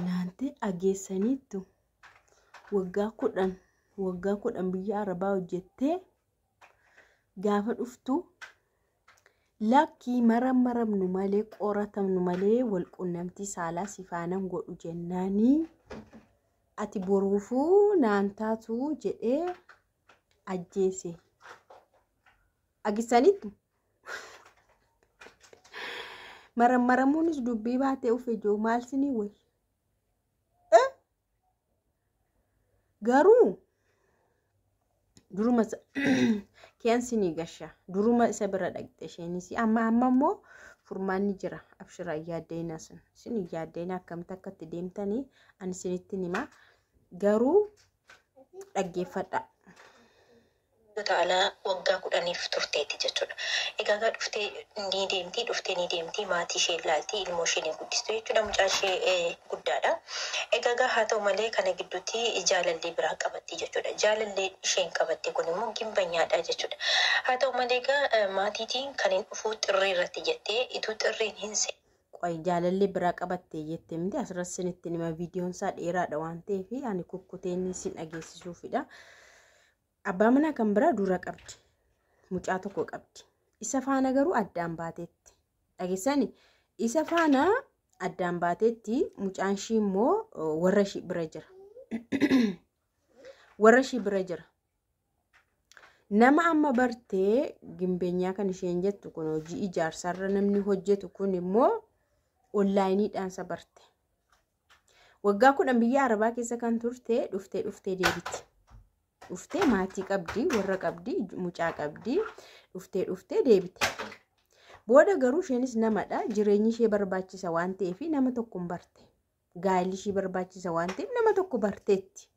Naante ageessaniittu waggaa kudhan waggaa kudhan biyya arabaa hojjettee gaafa dhuftu lakkii maram maramnu malee qoratamnu malee wal qunnamtii saalaa sifaanan godhu jennaanii ati boruufuu naan taatu jedhee ajjeese. Agisaniittu Marammaramuunis dubbii baatee ufe jiru maal sinii wayi. Garuu duruma kiyaan sinii gasha duruma isa bira dhaqxe isheenis amma amma immoo furmaanni jira abshira yaaddeena sun sin yaaddeena akkamitti akkatti deemtanii ani sinitti himaa garuu dhaggeeffadha. Utaalaa waggaa kudhaniif turteetti jechuudha. Egaa egaa dhuftee ni deemti, dhuftee ni deemti, maatii ishee ilaalti, ilmoo ishee ni guddistu jechuudha, mucaan ishee guddaadha. Egaa egaa haa ta'u malee kana gidduutti jaalallee biraa qabatti jechuudha. Jaalalleen isheen qabatte kun immoo gimbanyaadha jechuudha. Haa ta'u malee egaa maatiitiin kan hin dhufuu xirree irratti jettee ituu xirreen hin Qoy jaalallee biraa qabattee jette miti asirratti sinitti nima viidiyoon isaa dheeraadha waan ta'eef ani kukkuteen sin dhageessisuufidha. Abbaa manaa kan biraa dura qabdi. Mucaa tokko qabdi. Isa faana garuu addaan baateetti. Dhageessani isa faana addaan baateetti mucaan ishii immoo warra ishii bira jira. Warra ishii bira jira. Nama amma bartee gimbeenyaa kan isheen jettu kun hojii ijaarsaarra namni hojjetu kun immoo onlaayiniidhaan isa barte. Waggaa kudhan biyya Arabaa keessa kan turte dhuftee dhuftee deebiti. Dhuftee maatii qabdi, warra qabdi, mucaa qabdi, dhuftee dhuftee deebite. Booda garuu isheenis namadha. Jireenyi ishee barbaachisa waan ta'eef nama tokkoon barte. gaa'elli ishii barbaachisa waan ta'eef nama tokko barteetti.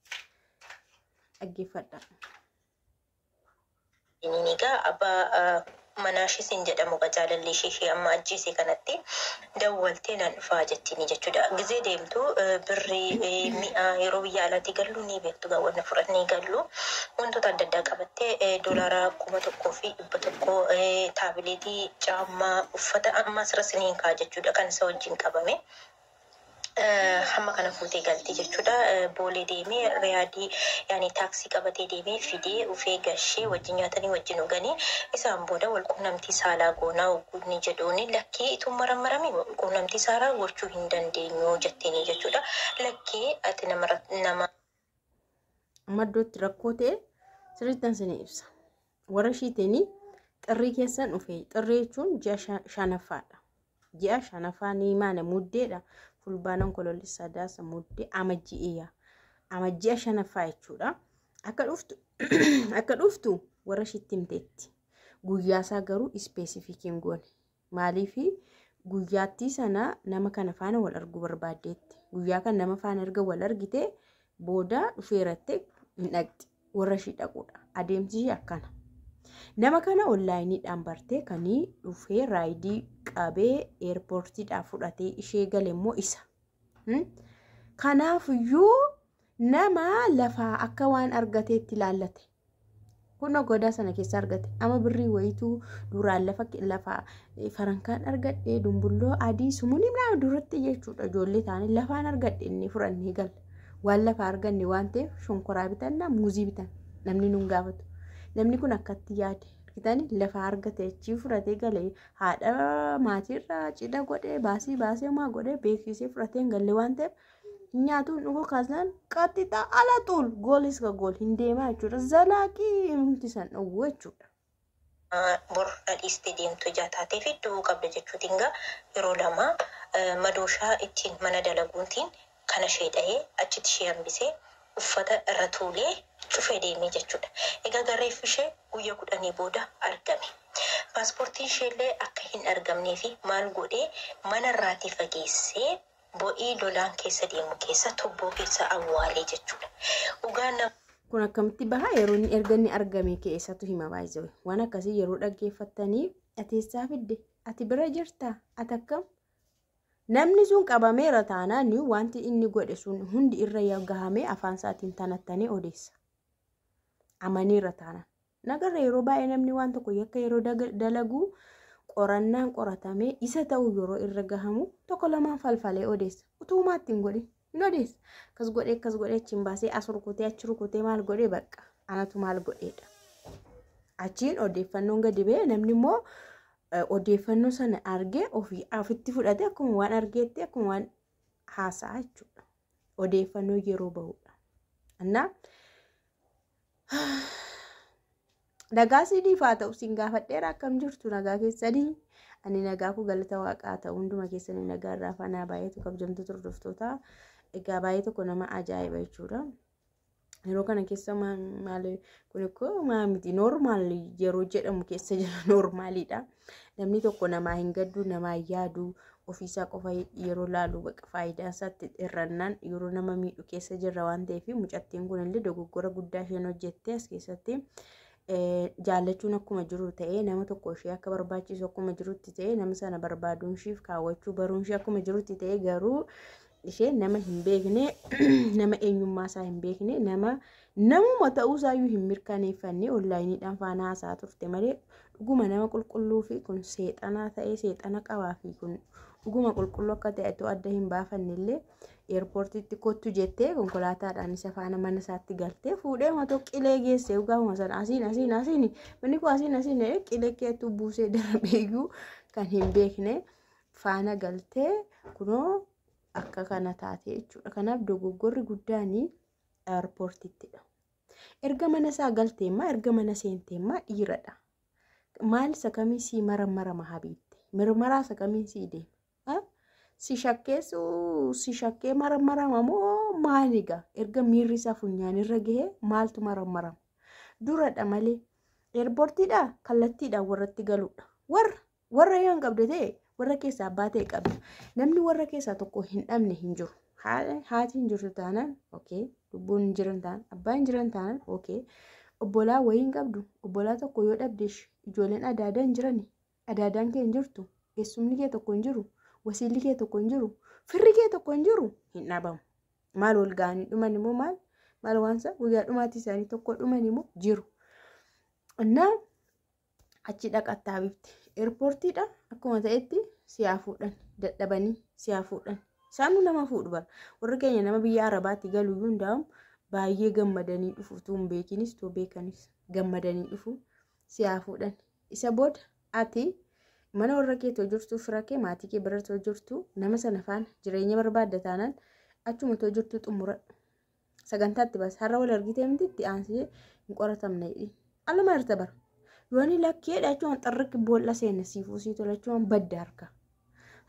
Dhaggeeffadha. Inni egaa abbaa ah, manaa ishee siin jedhamu egaa jaalalli ishee ishee amma ajjeese kanatti dawwaltee nan dhufaa jettiini jechuudha. Gizee deemtu eh, birri eh, mi'a yeroo biyya alaatii gallu ni beektu egaa wanna fudhannee gallu wantoota adda addaa qabattee eh, doolaara kuma tokkoo fi dhibba tokkoo eh, taabileetii, caammaa, uffata amma asirra siniin kaa jechuudha kan isa wajjin qabame. hamma kana fuutee galtee jechuudha. Boolee deemee riyaadii yaani taaksii qabatee deemee fidee ufee gashee wajjin nyaatanii wajjin dhuganii isaan booda wal quunnamtii saalaa goonaa hogguu inni jedhuuni lakkii ituun marammaramiin wal quunnamtii saalaa gochuu hin dandeenyu jetteenii jechuudha. Lakkii ati nama irratti- nama maddootti rakkoo ta'e sirriittan isinii ibsa. Warra ishiitiin xirrii keessan dhufee xirrii jechuun ji'a sha- shanaffaadha. Ji'a shanafaa ni maana muddeedha. Fulbaana Onkoloolli Sadaasa muddee amajji'eeya. Amajji'a shanaffaa jechuudha. Akka dhuftu akka dhuftu warra shitti himteetti. Guyyaasaa garuu ispeesifikiin goone. Maaliif guyyaattii sana nama kana faana wal arguu barbaaddeetti. Guyyaa kan nama faana erga wal argite booda dhufeerattee hin dhaqxi warra ishii dhaquudha adeemsi ishii akkana nama kana onlaayiniidhaan bartee kanii dhufee raayidii qabee eerpoortiidhaa fudhatee ishee gale immoo isa Hmm? kanaafiyyuu nama lafaa akka waan argateetti ilaallate Kunoo godaa sana keessa argate. Ama birrii wayituu duraan lafa lafa farankaan argadhe dumbulloo adii sumuliin nama duratti jechuudha ijoollee taanii lafaan argadhe inni fudhannee gala. Waan lafa arganne waan ta'eef shonkoraa bitanna muuzii bitan namni nun gaafatu. Namni kun akkatti yaade argitan lafa argate achii fudhatee gale haadha maatiirraa cidha godhee baasii baasee homaa godhee beeksisee fudhatee hin galle waan ta'eef nyaatuun dhuguu kaasnaan qaxxixa ala xuul goolis ka gool hin deemaa jechuudha. Zalaaqii himti san dhowwu jechuudha. bor dhadhiiste deemtu ijaa taatee fi du'uu qabda jechuutiin gaa yeroo lama madooshaa ittiin mana dalaguuntiin kana ishee dhahee achitti ishee hambisee uffata irra tuulee cufee deemee jechuudha. Egaa garreeffi ishee guyya kudhanii booda argame. Paaspoortiin isheellee akka hin argamnee fi maal godhee mana irraatii fageessee Bo'ii lolaan keessa deemu keessa tubboo keessa awwaale jechuudha. Dhugaa nama. Kun akkamitti baha yeroo inni erga inni argame kee eessatu hima baay'isee waan akkasii yeroo dhaggeeffattanii ati eessaa fidde ati bira jirta ati akkam namni sun qabameera taanaan wanti inni godhe sun hundi irra gahamee afaan isaatiin tanattanii odeessa amaniira taanaan Nagarra yeroo baay'ee namni waan tokko yakka yeroo dalagu qorannaan qoratamee isa ta'uu yeroo irra gahamu tokko lamaan falfalee odeessa. Utuu maatti hin godhin hin odeessa. Akkas godhee akkas godhee achi hin baasee as rukutee achi rukutee maal godhee bakka anatu maal godheedha. Achiin odeeffannoon gadi ba'e namni immoo odeeffannoo sana argee ofii ofitti fudhatee akkuma waan argeetti akkuma waan haasa'a jechuudha. odeeffannoo yeroo bahudha. Annaa nagaa siiniif haa ta'u siin gaafadheera akkam jirtu nagaa keessanii ani nagaa koo galata waaqaa ta'u hunduma keessanii nagaa irraa faanaa baay'eetu kabjamtu turdoftootaa egaa baay'ee tokko nama ajaa'iba jechuudha. yeroo kana keessa maali kun ikkoo maa miti noormaal yeroo jedhamu keessa jira noormaaliidha namni tokko namaa hin gadduu namaa hin yaaduu ofiisaa qofa yeroo laalu baqa faayidaa isaatti irrannaan yeroo nama miidhu keessa jirra waan ta'eef mucattiin kun illee dogoggora guddaa isheen hojjettee as keessatti jaallachuun akkuma jiru ta'ee nama tokko ishee akka barbaachisu akkuma jirutti ta'ee nama sana barbaaduun ishiif kaawwachuu baruun ishee akkuma jirutti ta'ee garuu ishee nama hin beekne nama eenyummaa isaa hin beekne nama namuma ta'uu isaayyuu hin mirkaneeffanne onlaayiniidhaan faana haasaa turte malee dhuguma nama qulqulluu fi kun seexanaa ta'ee seexana qabaa fi kun dhuguma qulqulluu akka ta'e otoo adda hin baafanne illee eerpoortiitti kottu jettee konkolaataadhaan isa faana mana isaatti galtee fuudhee matoo qilee geesse gaafuma sana asiin asiin asiin manni koo asiin asiin qilee keetu buusee darbeeyyuu kan hin beekne. faana galtee kunoo akka kana taate jechuudha. Kanaaf dogoggorri guddaan airpoortittidha. Erga mana isaa galteemmaa erga mana seenteemmaa dhiiradha. Maal isa kamii sii maramarama habiitti? Mirmaraa isa kamiin sii deema? Si shakkeessuu si shakkee maramarama moo maaliga? Erga miirri isaa funyaanirra gahee maaltu maramarama? Duradha malee. Eerpoortiidha kallattiidhaan warratti galuudha. Warra Warra yoon qabde ta'e warra keessaa abbaa ta'e qabda. Namni warra keessaa tokko hin dhabne hin jiru. Haati hin jirtu taanaan okay. Lubbuun hin jiran taanaan abbaa hin jiran taanaan okay. Obbolaa wayii hin qabdu. Obbolaa tokko yoo dhabdeesh ijoolleen adaadaa hin jirani. Adaadaan kee hin jirtu. Eessumni kee tokko hin jiru. Wasiilli kee tokko hin jiru. Firri kee tokko hin jiru. Hin dhabamu. Maal wal ga'anii dhuman immoo maal? Maal waansa guyyaa dhumaatii isaanii tokko dhuman immoo jiru. Innaa achi dhaqattaa bifti eerpoortiidha akkuma ta'etti siyaa fuudhan dadhabanii siyaa fuudhan isaanuu nama fuudhu bara warri keenya nama biyya arabaatti galu iyyuu hundaa'u baay'ee gammadanii dhufu utuu hin beekinis utuu beekanis gammadanii dhufu siyaa fuudhan isa booda ati mana warra keetoo jirtu fira kee maatii kee biratoo jirtu nama sana faana jireenya barbaadda taanaan achuma too jirtu xumuradhu sagantaa itti baase har'a wal argitee miti itti aansee hin qoratamne jedhi aluma irta bara yooni lakkee dhachuun xirriq boolla seenne siifuu sii tolachuun badda harka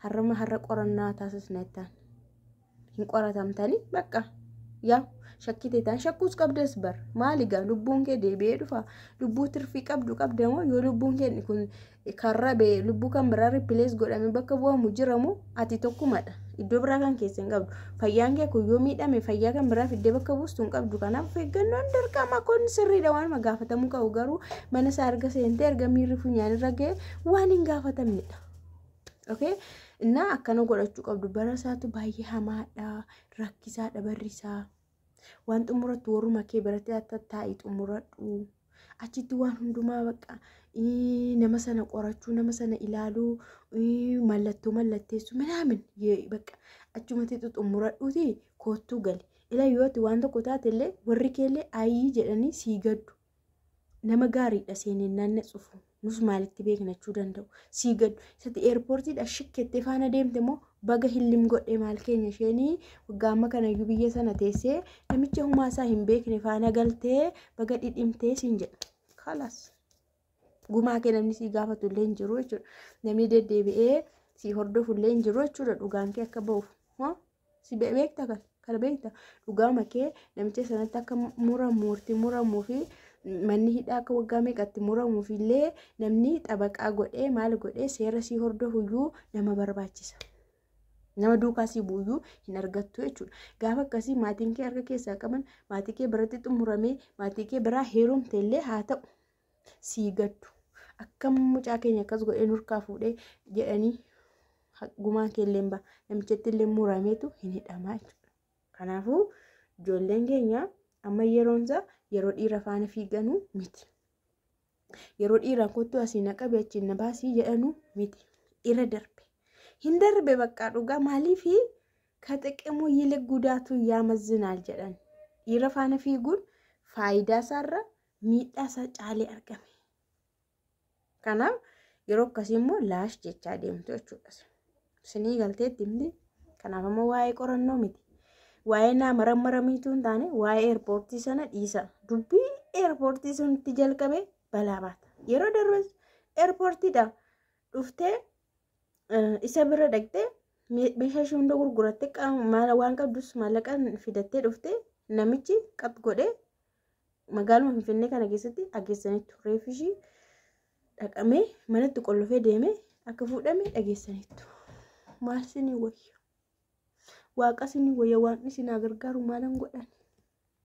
har'uma har'a qorannaa taasisna ittaan hin qoratamtanii bakka yaa shakkite taan shakkuus qabdas bar maali gaa lubbuun kee deebi'ee dhufa lubbuu tirfii qabdu qabda moo yoo lubbuun kee kun kan rabe lubbuu kan biraa ripilees godhame bakka bu'amu jiramu ati tokkumadha iddoo biraa kan keessa hin qabdu fayyaan kee kun yoo miidhame fayyaa kan biraa fiddee bakka buustu hin qabdu kanaaf of eeggannoon dirqama kun sirriidha waanuma gaafatamuu qabu garuu mana isaa erga seentee erga miirri funyaan irra ga'e waan hin gaafatamnedha. Okay? Innaa akkana godhachuu qabdu bara isaatu baay'ee hamaadha rakkisaadha barri isaa. waan xumuratti warruma kee biratti akka taa'i xumuradhu achitti waan hundumaa bakka ii, nama sana qorachuu nama sana ilaaluu ii, mallattoo mallatteessuu minaamin yee- bakka achumatti xumuradhuuti koottuu gali ila yoo ati waan tokko taate illee warri kee illee ayii jedhanii sii gaddu nama gaariidha seeneen naanna cufu nus maalitti beeknachuu danda'u sii gaddu isatti eerpoortiidha shikkettee faana deemte moo baga hillim godhe maal keenya isheenii waggaa amma kanayyuu biyya sana teessee namicha humaasaa hin beekne faana galtee baga dhidhimtee siin jedha kalas gumaa kee namni sii gaafatu illee hin jiru jechuudha namni deddeebi'ee sii hordofu illee hin jiru jechuudha dhugaan kee akka ba'uuf Si be- beekta kan kana beekta dhugaama kee namicha sanatti akka muramu itti muramuu fi manni hidhaa akka waggaa meeqatti muramuuf illee namni xabaqaa godhee maal godhee seera sii hordofuyyuu nama barbaachisa. Nama duukaa sii buuyyuu hin argattu jechuudha. Gaafa akkasii maatiin kee harka keessaa qaban maatii kee biratti xumuramee maatii kee biraa heerumte illee haa ta'u. sii gaddu akkam mucaa keenya akkas godhee nurkaa fuudhee jedhanii gumaan keelleen ba namichatti illee murameetu hin hidhamaa jechuudha. Kanaafuu ijoolleen keenya amma yeroonsa yeroo dhiira faana fiiganuu miti. Yeroo dhiiraan kottu asii na qabe achiin na baasii jedhanuu miti. Irra darbe. Hin darbe baqqaa dhugaa maaliifi ka xiqimuu yili gudaatu yaamazzinaal jedhan. Dhiira faana fiiguun faayidaa isaarra miidhaa isaa caalee argame. Kanaaf yeroo akkasii immoo laash jechaa deemtu jechuudha. Sinii galteetti himti. Kanaaf ammoo waa'ee qorannoo miti. Waa'ee naa marammaramiituu hin taane waa'ee eerpoortii sana dhiisa. Dubbii eerpoortii sun itti jalqabee balaa baata. Yeroo darbes eerpoortiidha. Dhuftee isa bira dhaqxee meeshaa ishee hunda gurgurattee waan qabdus maallaqaan fidattee dhuftee namichi qab godhee Magaaluma Finfinnee kana keessatti dhageessaniitu reeffi ishii dhaqamee manatti qollofee deemee akka fuudhame dhageessaniitu. Maal sinii wayya? Waaqa sinii wayya waaqni sinaa gargaaru maalan godhan?